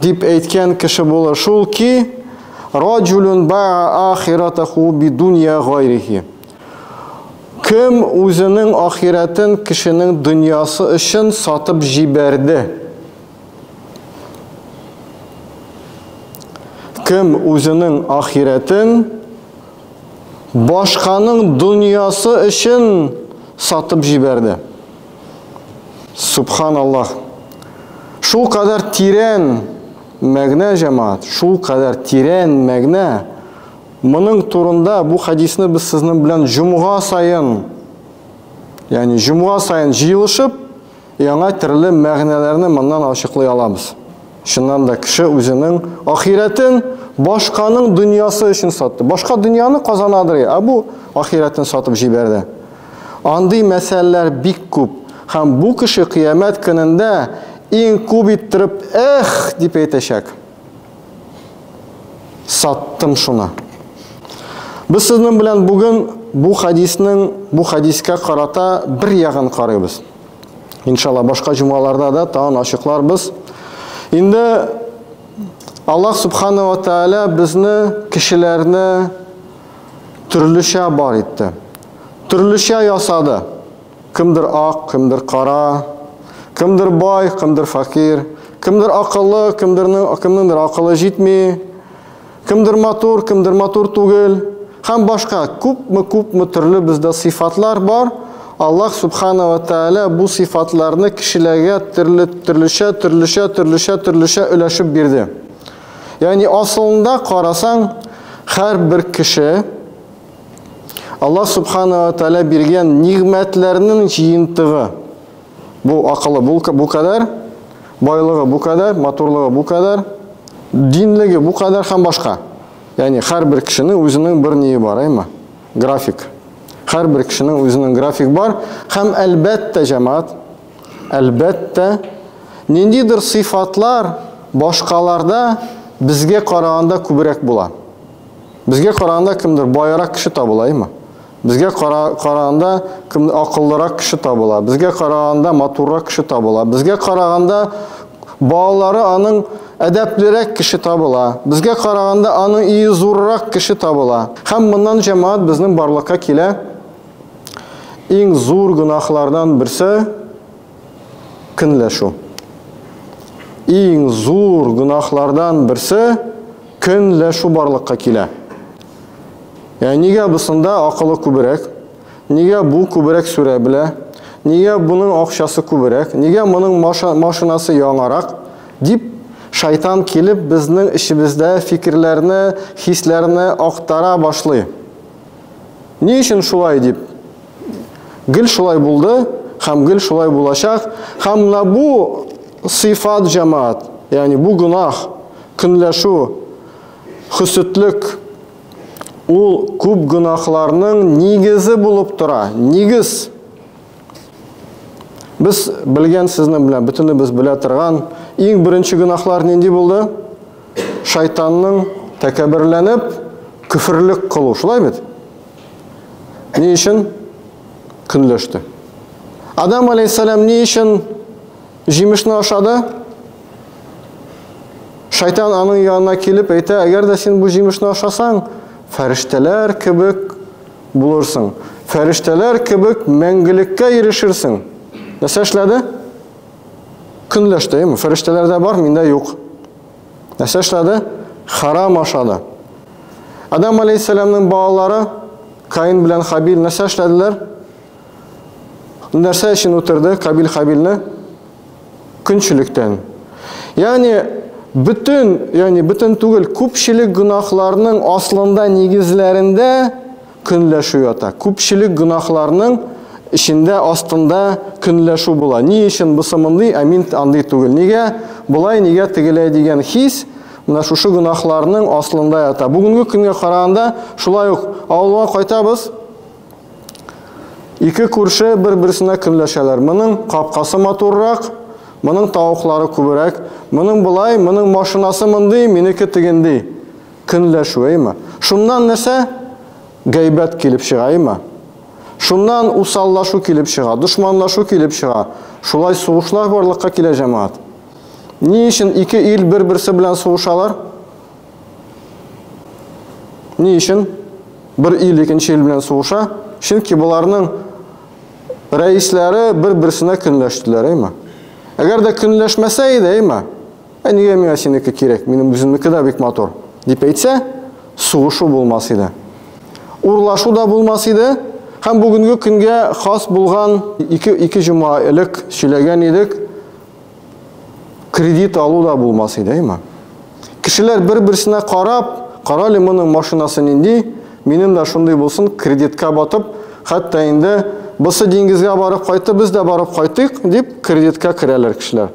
Дип әйткән кеше булыр шул ки, раҗулюн баа ахиратаху бидунья гайрихи. Кем үзенең ахирәтен кешенең дөньясы өчен сатып җибәрде? Кем үзенең ахирәтен башканың дөньясы өчен сатып җибәрде? Субханаллах. Шул кадәр тирән мәгънә җәмаат, шул кадәр тирән мәгънә. Моның турында бу хадисны без сезнең белән җомга саен, ягъни җомга саен җыелышып, яңа төрле мәгънәләрне моннан ачыклый алабыз. Чыннан да кеше үзенең ахирәтен башканың дөньясы өчен сатты. Башка дөньяны казанадыр, ә бу ахирәтен сатып җибәрде. Андый мәсәлләр бик күп, һәм бу кеше кыямәт көнендә иң күп иттереп Эх! дип әйтәчәк. Саттым шуны. Без сезнең белән бүген бу хәдиснең, бу хәдискә карата бер ягын карыйбыз. Иншалла, башка җомгаларда да тагын ачыкларбыз. Инде Аллаһ Субхану ва Тааля безне, кешеләрне төрлечә бар итте. Төрлечә ясады. Кемдер ак, кемдер кара, кемдер бай, кемдер факир, кемдер акыллы, кемдернең кемнеңдер акылы җитми, кемдер матур, кемдер матур түгел һәм башка күпме-күпме төрле бездә сыйфатлар бар. Аллаһ Субхана ва Тәгалә бу сыйфатларны кешеләргә төрле төрлечә, төрлечә, төрлечә, төрлечә өләшеп бирде. Ягъни асылында карасаң, һәрбер кеше Аллаһ Субхана ва Тәлә биргән нигмәтләрнең җыентыгы. Бу акылы бу, бу кадәр, байлыгы бу кадәр, матурлыгы бу кадәр, динлеге бу кадәр һәм башка. Ягъни һәрбер кешенең үзенең бер ние бар, әйме? График. Һәрбер кешенең үзенең график бар һәм әлбәттә җәмәгать, әлбәттә ниндидер сыйфатлар башкаларда безгә караганда күбрәк була. Безгә караганда кемдер баерак кеше табылаймы? Безгә кара, караганда кем акыллырак кеше табыла. Безгә караганда матуррак кеше табыла. Безгә караганда балалары аның әдәплерәк кеше табыла. Безгә караганда аның ие зуррак кеше табыла. Һәм моннан җәмаат безнең барлыкка килә. Иң зур гөнаһлардан берсе Көнләшү. Иң зур гөнаһлардан берсе көнләшү барлыкка килә. Яни нигә бусында акылы күберәк? Нигә бу күберәк сүрә белә? Нигә буның акчасы күберәк? Нигә моның машинасы яңарак? дип шайтан килеп безнең эчебездә фикерләрне, хисләрне актара башлый. Ни өчен шулай дип? Гел шулай булды һәм гел шулай булачак. Һәм менә бу сыйфат җәмаат, ягъни бу гөнаһ, көнләшү, хөсетлек ул күп гөнаһларның нигезе булып тора. Нигез Без белгән сезнең белән бөтенебез белә торган иң беренче гөнаһлар нинди булды? шайтанның тәкәберләнеп көферлек кылу, шулай бит? Ни өчен көнләште? Адам алейхиссалам ни өчен җимешне ашады? Шайтан аның янына килеп әйтә, әгәр дә син бу җимешне ашасаң, фәрештәләр кебек булырсың. Фәрештәләр кебек мәңгелеккә ирешерсең. Нәрсә эшләде? Көнләштем, фәрештәләр дә бар, миндә юк. Нәрсә эшләде? Харам ашады. Адам алейхиссәламның балалары Каин белән Хабил нәрсә эшләделәр? Нәрсә өчен үтерде Кабил Хабилне? Көнчелектән. Ягъни бөтен, ягъни бөтен түгел, күпчелек гөнаһларның аслында, нигезләрендә Көнләшү ята. Күпчелек гөнаһларның эчендә, астында көнләшү була. Ни өчен бусы мондый, ә мин андый түгел? Нигә болай, нигә тегеләй дигән хис менә шушы гөнаһларның аслында ята. Бүгенге көнгә караганда шулай ук авылга кайтабыз, ике күрше бер-берсенә көнләшәләр. Моның капкасы матуррак, моның тавыклары күберәк, моның болай, моның машинасы мондый, минеке тегенди. Көнләшүеме? Шуннан нәрсә? Гайбәт килеп чыгаймы? Шуннан усаллашу килеп чыга, дошманлашу килеп чыга. Шулай сугышлар барлыкка килә, җәмәгать. Ни өчен ике ил бер-берсе белән сугышалар? Ни өчен бер ил икенче ил белән сугыша? Чөнки боларның рәисләре бер-берсенә көнләштеләр, әйме? Әгәр дә көнләшмәсә иде, әйме? Ә нигә миңа синеке кирәк? Минем үземнеке дә бик матур, дип әйтсә, сугышу булмас иде. Урлашу да булмас иде. Һәм бүгенге көнгә хас булган ике, ике җома элек сөйләгән идек, кредит алу да булмас иде, әйме? Кешеләр бер-берсенә карап, карале моның машинасы нинди, минем дә шундый булсын, кредитка батып, хәтта инде Бысы диңгезгә барып кайтты, без дә барып кайтыйк, дип кредитка керәләр кешеләр.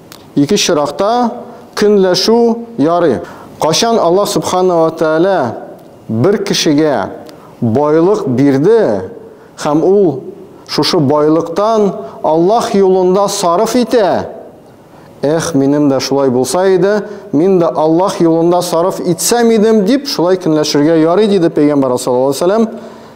Ике чоракта көнләшү ярый. Кайчан Аллаһ Сүбхана ва Тәгалә бер кешегә байлык бирде һәм ул шушы байлыктан Аллаһ юлында сарыф итә, Эх, минем дә шулай булса иде, мин дә Аллаһ юлында сарыф итсәм идем, дип шулай көнләшергә ярый, диде Пәйгамбәр саллаллаһу галәйһи ва сәлләм.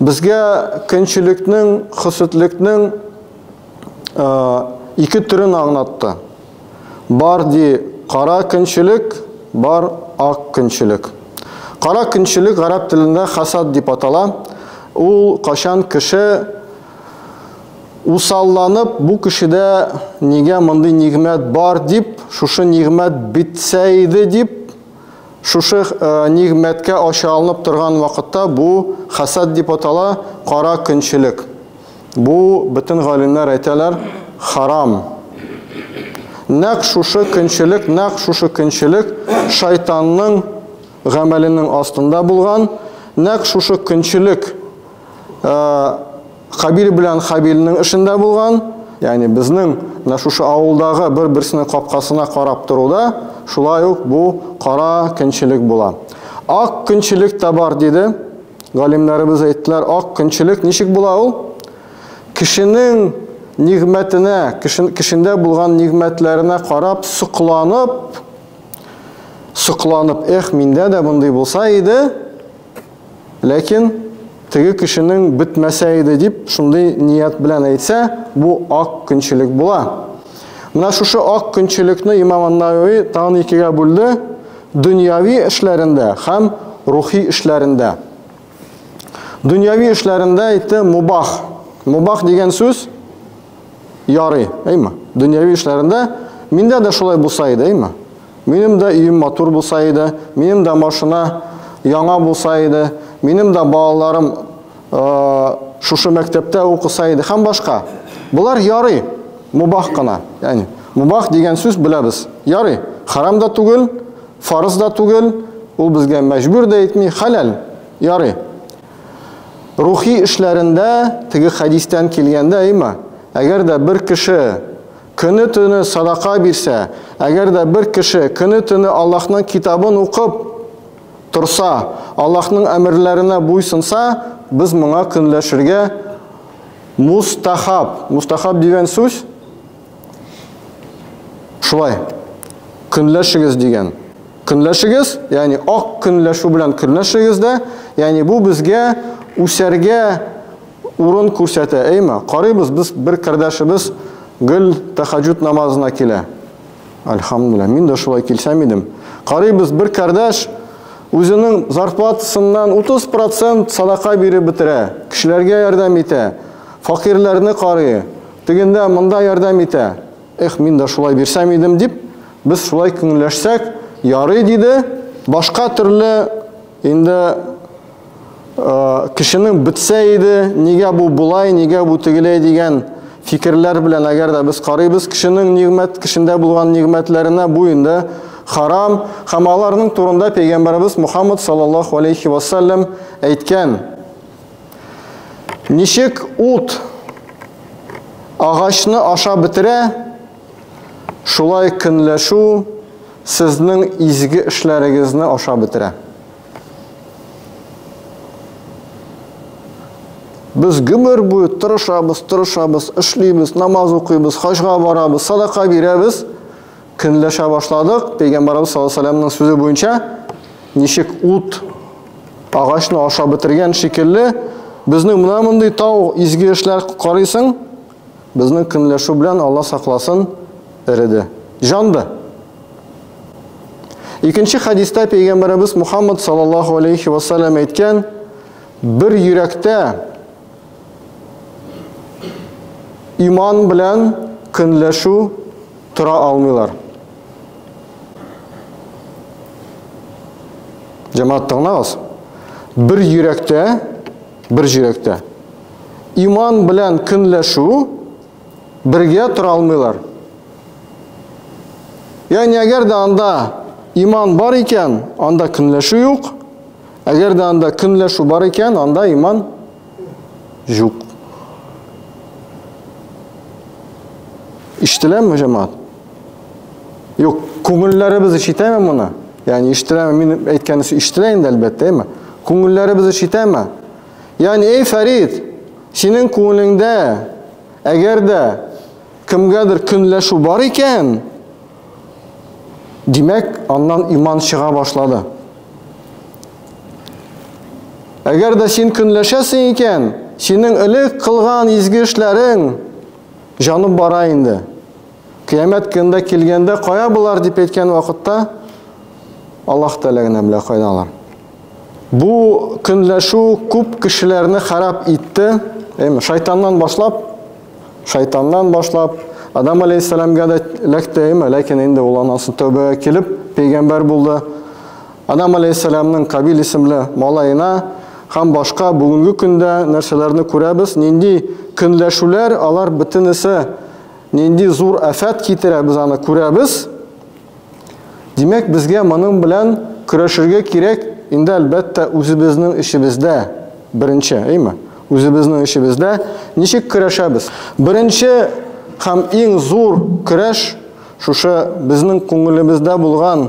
Безгә көнчелекнең, хөсетлекнең ике төрен аңлатты. Бар ди кара көнчелек, бар ак көнчелек. Кара көнчелек гарәп телендә хәсад дип атала. Ул качан кеше усалланып, бу кешедә нигә мондый нигъмәт бар дип, шушы нигъмәт бетсә иде дип, Шушы нигъмәткә ачы алынып торган вакытта бу хәсәд дип атала, кара көнчелек. Бу, бөтен галимнәр әйтәләр, харам. Нәкъ шушы көнчелек, нәкъ шушы көнчелек шайтанның гамәленең астында булган, нәкъ шушы көнчелек, Кабил белән Хабилнең эшендә булган, ягъни безнең менә шушы авылдагы бер-берсенең капкасына карап торуда шулай ук бу кара көнчелек була. Ак көнчелек тә бар диде. Галимнәребез әйттеләр, ак көнчелек ничек була ул? Кешенең нигъмәтенә, кешен, кешендә булган нигъмәтләренә карап, сокланып, сокланып, эх, миндә дә мондый булса иде, Ләкин теге кешенең бетмәсә иде дип шундый ният белән әйтсә, бу ак көнчелек була. Менә шушы ак көнчелекне имам ан-Навави тагын икегә бүлде, дөньяви эшләрендә һәм рухи эшләрендә. Дөньяви эшләрендә әйтте мубах. Мубах дигән сүз ярый, әйме? Дөньяви эшләрендә миндә дә шулай булса иде, әйме? Минем дә өем матур булса иде, минем дә машина яңа булса иде, минем дә балаларым шушы мәктәптә укыса иде һәм башка. Болар ярый, мубах кына. Яни, мубах дигән сүз беләбез. Ярый, харам да түгел, фарыз да түгел, ул безгә мәҗбүр дә итми, хәләл. Ярый. Рухи эшләрендә, теге хәдистән килгәндә, әйма, әгәр дә бер кеше Көне-төне садака бирсә, әгәр дә бер кеше көне-төне Аллаһның китабын укып торса, Аллаһның әмерләренә буйсынса, без моңа көнләшергә мустахаб. Мустахаб дигән сүз шулай, көнләшегез дигән. Көнләшегез, ягъни ак көнләшү белән көнләшегез дә, ягъни бу безгә үсәргә Урын күрсәтә, әйме? Карыйбыз, без бер кардәшебез гел тәхәҗҗүд намазына килә. Альхамдулилла, мин дә шулай килсәм идем. Карыйбыз, бер кардәш үзенең зарплатасыннан 30% садака биреп бетерә, кешеләргә ярдәм итә, факирләрне карый, тегендә монда ярдәм итә. Эх, мин дә шулай бирсәм идем дип, без шулай күңелләшсәк, ярый диде. Башка төрле инде кешенең бетсә иде, нигә бу болай, нигә бу тегеләй дигән фикерләр белән әгәр дә без карыйбыз кешенең нигмәт, кешендә булган нигмәтләренә, бу инде харам, һәм аларның турында пәйгамбәрбез Мухаммад саллаллаху алейхи вассалам әйткән. Ничек ут агачны аша бетерә, шулай көнләшү сезнең изге эшләрегезне аша бетерә. Без гомер буе тырышабыз, тырышабыз, эшлибез, намаз укыйбыз, хаҗга барабыз, садака бирәбез. Көнләшә башладык. Пәйгамбарыбыз саллаллаху алейһи ва сүзе буенча ничек ут агачны ашап бетергән шикелле, безнең менә мондый тау изге эшләр карыйсың, Безнең көнләшү белән Алла сакласын, эреде. Җанды. Икенче хәдистә пәйгамбәребез Мухаммад саллаллаһу алейхи ва саллям әйткән, бер йөрәктә иман белән көнләшү тора алмыйлар. Җәмәгать тыңлагыз. Бер йөрәктә бер җөрәктә. Иман белән көнләшү бергә тора алмыйлар. Ягъни әгәр дә анда иман бар икән, анда көнләшү юк. Әгәр дә анда көнләшү бар икән, анда иман юк. Иштеләме, җәмәгать? Юк, күңелләребез ишетәме моны? Ягъни ишетәме? Мин әйткән өчен ишетелә инде әлбәттә, әйме? Күңелләребез ишетәме? Ягъни, эй, Фәрид, синең күңелеңдә әгәр дә кемгәдер көнләшү бар икән, димәк, аннан иман чыга башлады. Әгәр дә син көнләшәсең икән, синең элек кылган изге эшләрең җанып бара инде. Кыямәт көнендә килгәндә, кая болар дип әйткән вакытта, Аллаһ Тәгалә генә белә кайда алар. Бу көнләшү күп кешеләрне харап итте. Әйме, шайтаннан башлап, шайтаннан башлап, Адам алейхиссаламга да эләкте, әйме, ләкин инде ул анасы тәүбәгә килеп, пәйгамбәр булды. Адам алейхиссаламның Кабил исемле малаена һәм башка бүгенге көндә нәрсәләрне күрәбез, нинди көнләшүләр алар бөтенесе Нинди зур афәт китерә, без аны күрәбез. Димәк, безгә моның белән көрәшергә кирәк, инде әлбәттә үзебезнең эчебездә беренче, әйме? Үзебезнең эчебездә ничек көрәшәбез? Беренче һәм иң зур көрәш шушы безнең күңелебездә булган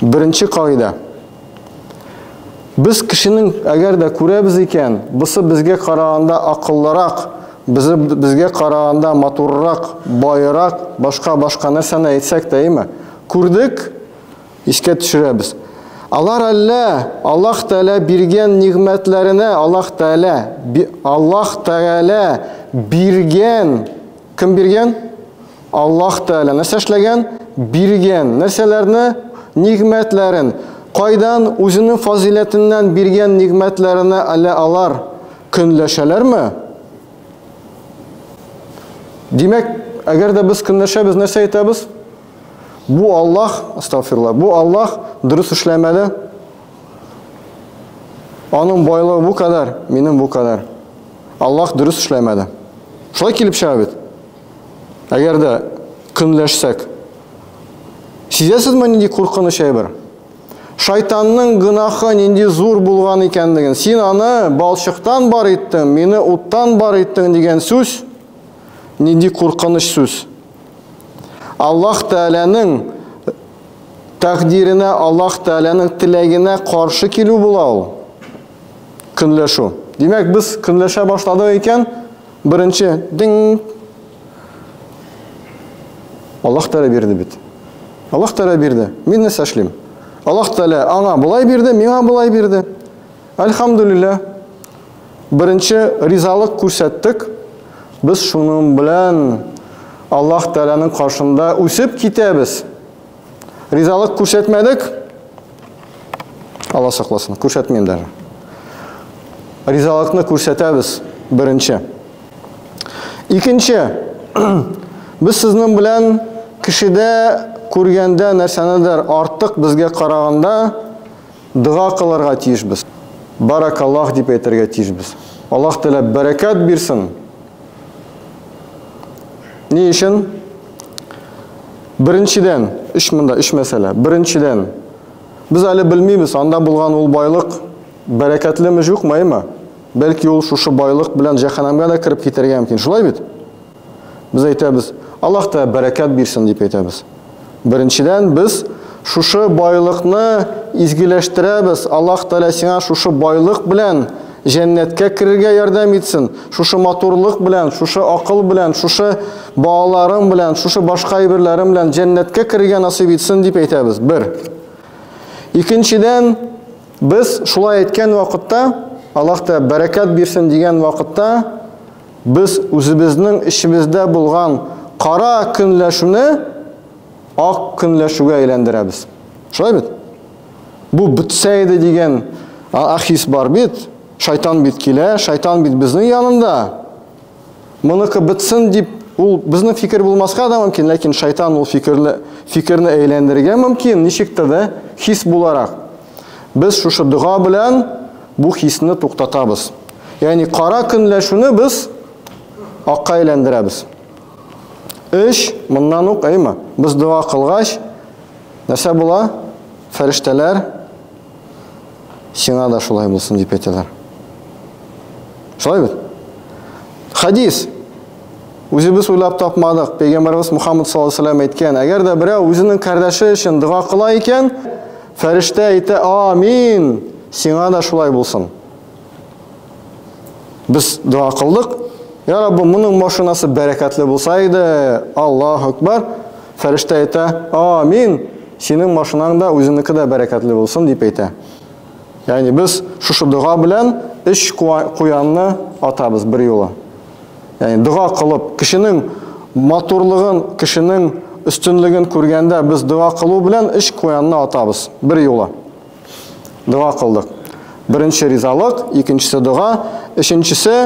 Беренче кагыйдә. Без кешенең әгәр дә күрәбез икән, бусы безгә караганда акыллырак, безе безгә караганда матуррак, байырак, башка башка нәрсәне әйтсәк тә, әйме? Күрдек, искә төшерәбез. Алар әллә Аллаһ Тәгалә биргән нигъмәтләренә Аллаһ Тәгалә Аллаһ Тәгалә биргән кем биргән? Аллаһ Тәгалә нәрсә эшләгән? Биргән. Нәрсәләрне? Нигъмәтләрен. Кайдан? Үзенең фазыйләтеннән биргән нигъмәтләренә әле алар көнләшәләрме? Димәк, әгәр дә без көнләшәбез, нәрсә әйтәбез? Бу Аллаһ, астагфирулла, бу Аллаһ дөрес эшләмәде. Аның байлыгы бу кадәр, минем бу кадәр. Аллаһ дөрес эшләмәде. Шулай килеп чыга бит. Әгәр дә көнләшсәк, сизәсезме нинди куркыныч әйбер? Шайтанның гынахы нинди зур булган икәнлеген, син аны балчыктан бар иттең, мине уттан бар иттең дигән сүз нинди куркыныч сүз. Аллаһ Тәгаләнең тәкъдиренә, Аллаһ Тәгаләнең теләгенә каршы килү була ул. Көнләшү. Димәк, без көнләшә башладык икән, Беренче дин Аллаһ Тәгалә бирде бит. Аллаһ Тәгалә бирде. Мин нәрсә эшлим? Аллаһ Тәгалә аңа болай бирде, миңа болай бирде. Альхамдулилла. Беренче ризалык күрсәттек. Без шуның белән Аллаһ Тәгаләнең каршында үсеп китәбез. Ризалык күрсәтмәдек. Алла сакласын, күрсәтмим даже. Ризалыкны күрсәтәбез беренче. Икенче, без сезнең белән кешедә күргәндә нәрсәнедер артык безгә караганда дога кылырга тиешбез. Баракаллах дип әйтергә тиешбез. Аллаһ теләп бәрәкәт бирсен. Ни өчен? Беренчедән, үч монда, үч мәсьәлә. Беренчедән, без әле белмибез, анда булган ул байлык бәрәкәтлеме, җукмы, әйме? Бәлки ул шушы байлык белән җәһәннәмгә дә кереп китәргә мөмкин. Шулай бит? Без әйтәбез, Аллаһ та бәрәкәт бирсен дип әйтәбез. Беренчедән, без шушы байлыкны изгеләштерәбез. Аллаһ Тәгалә сиңа шушы байлык белән җәннәткә керергә ярдәм итсен. Шушы матурлык белән, шушы акыл белән, шушы балаларың белән, шушы башка әйберләрең белән җәннәткә керергә насыйп итсен дип әйтәбез. Бер. Икенчедән, без шулай әйткән вакытта, Аллаһ Тәгалә бәрәкәт бирсен дигән вакытта, Без үзебезнең эчебездә булган кара көнләшүне ак көнләшүгә әйләндерәбез. Шулай бит? Бу бетсә иде дигән ахис бар бит. Шайтан бит килә, шайтан бит безнең янында. Моныкы бетсен дип Ул безнең фикер булмаска да мөмкин, ләкин шайтан ул фикерне фикерне әйләндерергә мөмкин, ничектер дә хис буларак. Без шушы дога белән бу хисне туктатабыз. Ягъни кара көнләшүне без акка әйләндерәбез. Эш моннан ук, әйме? Без дога кылгач, нәрсә була? Фәрештәләр сиңа да шулай булсын дип әйтәләр. Шулай бит? Хадис. Үзебез уйлап тапмадык. Пәйгамбәрбез Мухаммад саллаллаһу алейһи ва әйткән, әгәр дә берәү үзенең кардәше өчен дога кыла икән, Фәрештә әйтә, амин, сиңа да шулай булсын. Без дога кылдык, я Раббы, моның машинасы бәрәкәтле булса иде, Аллах Акбар. Фәрештә әйтә, амин, синең машинаң да, үзеңнеке дә бәрәкәтле булсын, дип әйтә. Ягъни без шушы дога белән өч куянны атабыз бер юлы. Яни дога кылып, кешенең матурлыгын, кешенең өстенлеген күргәндә без дога кылу белән эш куянны атабыз. Бер юлы. Дога кылдык. Беренче ризалык, икенчесе дога, өченчесе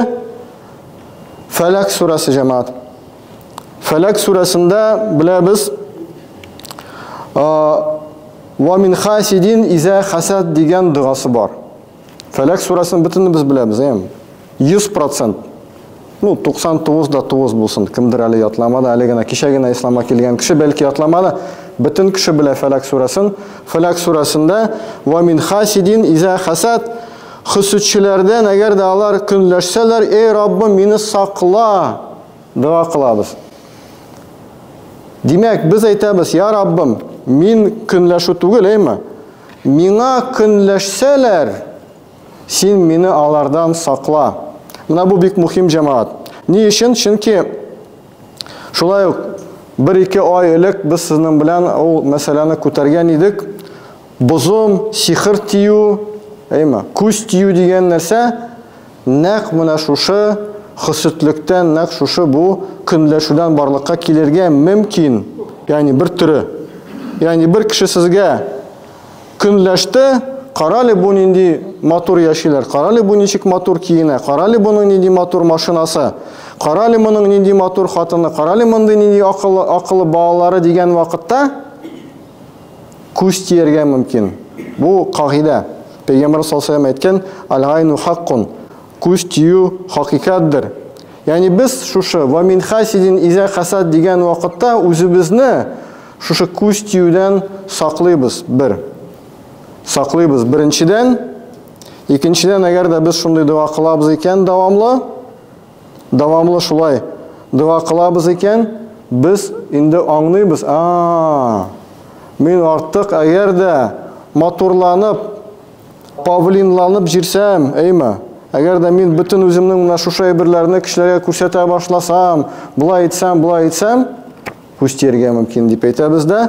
Фәләк сүрәсе җәмәгать. Фәләк сүрәсендә беләбез Ва мин хасидин изә хасад дигән догасы бар. Фәләк сурасын бөтенебез беләбез, әм. 100%. Ну, 99 да 9 булсын, кемдер әле ятламады, әле генә кичә генә исламга килгән кеше бәлки ятламады. Бөтен кеше белә Фәләк сурасын. Фәләк сурасында ва мин хасидин иза хасад хөсүдчеләрдән, әгәр дә алар көнләшсәләр, эй Раббым, мине сакла, дога кылабыз. Димәк, без әйтәбез, я Раббым, мин көнләшү түгел, әйме? Миңа көнләшсәләр, син мине алардан сакла. Менә бу бик мөхим, җәмәгать. Ни өчен? Чөнки шулай ук бер-ике ай элек без сезнең белән ул мәсьәләне күтәргән идек. Бозым, сихер тию, әйме, күз тию дигән нәрсә Нәкъ менә шушы хөсетлектән, нәкъ шушы бу көнләшүдән барлыкка килергә мөмкин, ягъни бер төре. Ягъни бер кеше сезгә көнләште, карале бу нинди матур яшиләр, карале бу ничек матур киенә, карале буның нинди матур машинасы, карале моның нинди матур хатыны, карале мондый нинди акыллы, акыллы балалары дигән вакытта, Күз тияргә мөмкин. Бу, кагыйдә. Пәйгамбәрбез саллаллаһу галәйһи ва сәлләм әйткән, Аль-гайну хаккун, күз тию хакыйкатьдер. Ягъни без шушы, Ва мин хасидин иза хасад дигән вакытта үзебезне шушы күз тиюдән саклыйбыз, бер. Саклыйбыз, беренчедән. Икенчедән, әгәр дә без шундый дога кылабыз икән дәвамлы, Дәвамлы шулай дога кылабыз икән, без инде аңлыйбыз, а-а-а, мин артык әгәр дә матурланып, павлинланып җирсәм, әйме, әгәр дә мин бөтен үземнең менә шушы әйберләрне кешеләргә күрсәтә башласам, болай итсәм, болай итсәм, күз тияргә мөмкин дип әйтәбез дә.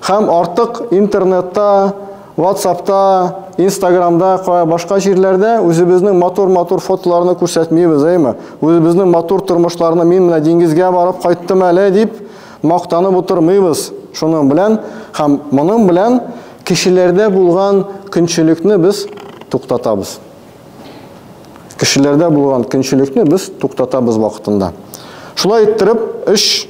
Һәм артык интернетта, WhatsAppта, Instagramда, кая башка җирләрдә үзебезнең матур-матур фотоларны күрсәтмибез, әйме? Үзебезнең матур тормышларны мин менә диңгезгә барып кайттым әле дип мактанып утырмыйбыз. Шуның белән һәм моның белән кешеләрдә булган көнчелекне без туктатабыз. Кешеләрдә булган көнчелекне без туктатабыз вакытында. Шулай иттереп, өч